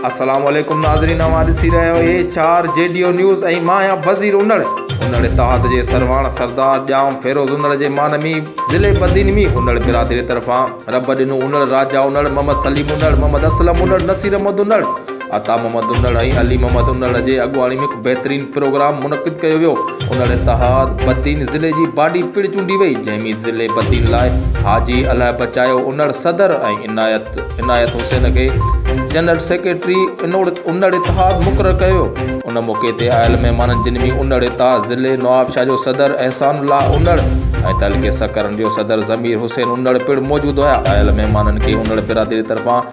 السلام عليڪم ناظرين اوهان ڏسي رهيا آهيو اي چار جي ڊي او نيوز ۽ مان آهيان وزير انڙ انڙ اتحاد جي سرواڻ سردار ڄام فيروز انڙ جي مان ۾ ضلعي بدين ۾ انڙ برادري طرفان رب ڏنو انڙ راجا انڙ محمد سليم انڙ محمد اسلم انڙ نصير احمد انڙ عطا محمد انڙ ۽ علي محمد انڙ جي اڳواڻي ۾ هڪ بهترين پروگرام منعقد ڪيو ويو انڙ اتحاد بدين ضلعي جي باڊي پڻ چونڊي وئي جنهن ۾ ضلعي بدين لاء حاجي الهه بچايو انڙ صدر ۽ عنايت عنايت حسين کي جنرل سيڪريٽري انڙ اتحاد مقرر ڪيو ويو ان موقعي تي آيل مهمانن جن ۾ انڙ اتحاد ضلعي نوابشاهه جو صدر احسان الله انڙ ۽ تعلقي سکرن جو صدر ضمير حسين انڙ پڻ موجود هيا آيل مهمانن کي انڙ برادري طرفان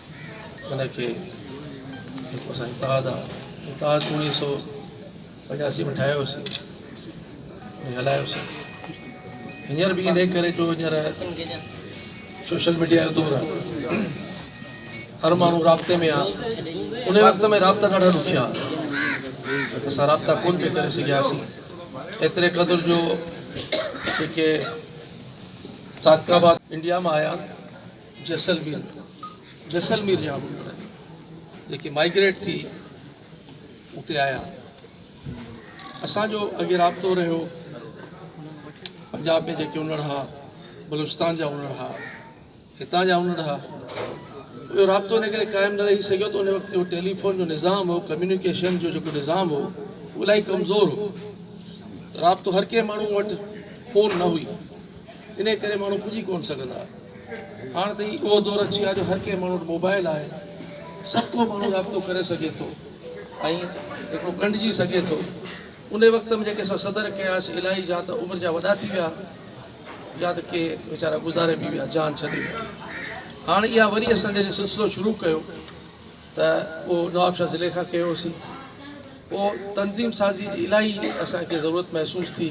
ان کي جيڪو اسان اتحاد آ اتحاد اڻيهه سؤ پنجاسي ۾ ٺاهيو هوسي ۽ هلايو هوسي هينئر به انهي ڪري جو هينئر سوشل ميڊيا جو دور آ هر ماڻهو رابطي ۾ آ انهي وقت ۾ رابطا ڏاڍا ڏکيا هئا اسان رابطا ڪون پي ڪري سگهياسي ايتري قدر جو جيڪي صادقاباد انڊيا مان آيا جيسلمير ۾ جيسلمير جا هوندا آهن جيڪي مائگريٽ ٿي اتي آيا اسان جو اڳي رابطو رهيو پنجاب ۾ جيڪي انڙ ها بلوچستان جا انڙ ها هتان جا انڙ ها اهو رابطو ان ڪري قائم نه رهي سگهيو ته ان وقت جو ٽيليفون جو نظام هو ڪميونيڪيشن جو جيڪو نظام هو اهو الاهي ڪمزور هو رابطو هر ڪنهن ماڻهو وٽ فون نه هئي ان ڪري ماڻهو پڄي ڪونه سگهندا هاڻ ته اهو دور اچي آ جو هر ڪنهن ماڻهو وٽ موبائل آهي سڀ ڪو ماڻهو رابطو ڪري سگهي ٿو ۽ هڪڙو ڳنڍجي سگهي ٿو انهي وقت ۾ جيڪي اسان صدر ڪياسي الائي جا ته عمر جا وڏا ٿي ويا يا ته ڪي ويچارا گذاري به ويا جان ڇڏي ويا هاڻ اها وري اسان جڏهن سلسلو شروع ڪيو ته اهو نوابشاهه ضلعي کان ڪيو هوسين پوء تنظيم سازي جي الاهي اسان کي ضرورت محسوس ٿي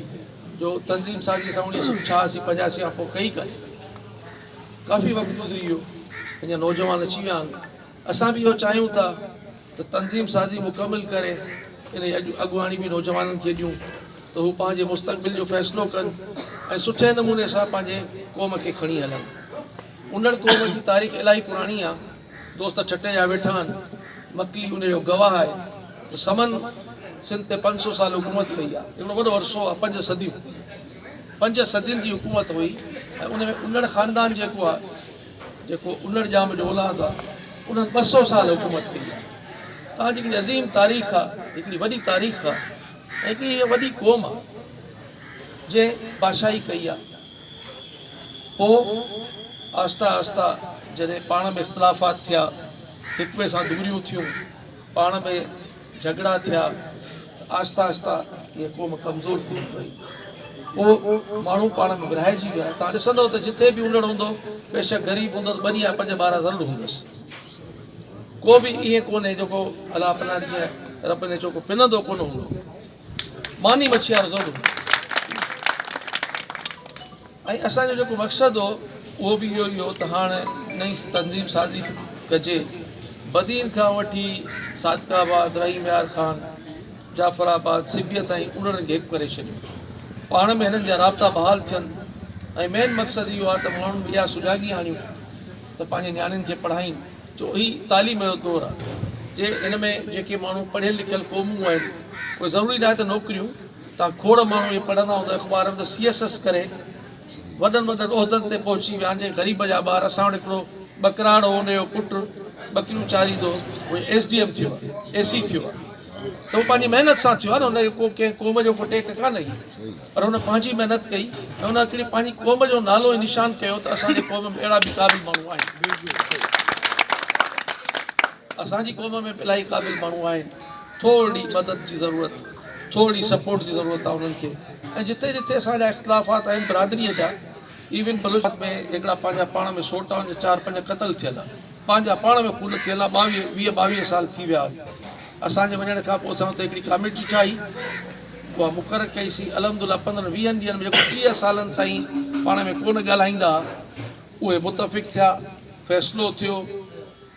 جو تنظيم سازي اسان اڻيهه سو ڇهاسي پنجاسي کان پوء ڪئي ڪانهي ڪافي وقت گذري ويو اڃا نوجوان اچي ويا آهن اسان به اهو چاهيون ٿا ته تنظيم سازي مڪمل ڪري ان جي اڳواڻي به نوجوانن کي ڏيون ته هو پنهنجي مستقبل جو فيصلو ڪن ۽ سٺي نموني سان پنهنجي قوم کي کڻي هلن انڙ قوم جي تاريخ الاهي پراڻي آهي دوست ٺٽي جا ويٺا آهن، مڪلي ان جو گواهه آهي ته سمن سنڌ تي پنج سؤ سال حڪومت ڪئي آهي. هڪڙو وڏو عرصو آهي، پنج صديون. پنج صدين جي حڪومت هئي ۽ ان ۾ انڙ خاندان جيڪو آهي، جيڪو انڙ ڄام جو اولاد آهي، انهن ٻه سؤ سال حڪومت ڪئي آهي. تان جي هڪڙي عظيم تاريخ آهي، هڪڙي وڏي تاريخ آهي ۽ هڪڙي هيء وڏي قوم آهي، جنهن بادشاهي ڪئي آهي. پوء آهستي آهستي جڏهن پاڻ ۾ اختلافات ٿيا، هڪ ٻئي سان دوريون ٿيون، پاڻ ۾ جهڳڙا ٿيا ته آهستي آهستي اها قوم ڪمزور ٿيندي وئي. پوء ماڻهو پاڻ ۾ ورهائجي ويا. توهان ڏسندؤ ته جتي به انڙ هوندو، بيشڪ غريب هوندو ته ٻنهي يا پنج ٻارا ضرور هوندس. ڪو به ائين ڪونهي جيڪو الله پناهه ڏجي ۽ رب نيچو ڪو پنندو ڪونه هوندو. ماني مڇي وارو زور ٻڌو ۽ اسان جو جيڪو مقصد هو اهو به اهو ئي هو ته هاڻ نئين تنظيم سازي ڪجي بدين کان وٺي صادق آباد رحيم يار خان جعفر آباد سبيء تائين اڙن گيپ ڪري ڇڏيو پاڻ ۾ هنن جا رابطا بحال ٿين ۽ مين مقصد اهو آهي ته ماڻهن ۾ اها سجاڳي آڻيون ته پنهنجي نياڻين کي پڙهائين جو هي تعليم جو دور آهي جي ان ۾ جيڪي ماڻهو پڙهيل لکيل قومون آهن اهي ضروري ناهي ته نوڪريون تان کوڙ ماڻهو اهي پڙهندا هوندا اخبار ۾ ته سي ايس ايس ڪري وڏن وڏن عهدن تي پهچي ويا جي غريب جا ٻار اسان وٽ هڪڙو ٻڪراڙ هو ان جو پٽ ٻڪريون چاريندو هو اهي ايس ڊي ايم ٿيو اي سي ٿيو ته هو پنهنجي محنت سان ٿيو آهي نه هن کي ڪو ڪنهن قوم جو ڪو ٽيڪ ڪانه هي پر هن پنهنجي محنت ڪئي ۽ ان اکڙي پنهنجي قوم جو نالو ۽ نشان ڪيو ته اسان جي قوم ۾ اهڙا به قابل ماڻهو آهن. اسان جي قوم ۾ به الاهي قابل ماڻهو آهن. ٿورڙي مدد جي ضرورت، ٿورڙي سپورٽ جي ضرورت آهي انهن کي ۽ جتي جتي اسان جا اختلافات آهن برادريء جا، ايون بلوچستان ۾ هڪڙا پنهنجا پاڻ ۾ سوٽا هئا جي چار پنج قتل ٿيل ها پنهنجا پاڻ ۾ خون ٿيل ها ٻاويهه ويهه ٻاويهه سال ٿي ويا هن اسان جي وڃڻ کان پوء اسان اتي هڪڙي ڪاميٽي ٺاهي اها مقرر ڪئي سي الحمدلله پندرهن ويهن ڏينهن ۾ جيڪو ٽيهه سالن تائين پاڻ ۾ ڪونه ڳالهائيندا ها اهي متفق ٿيا فيصلو ٿيو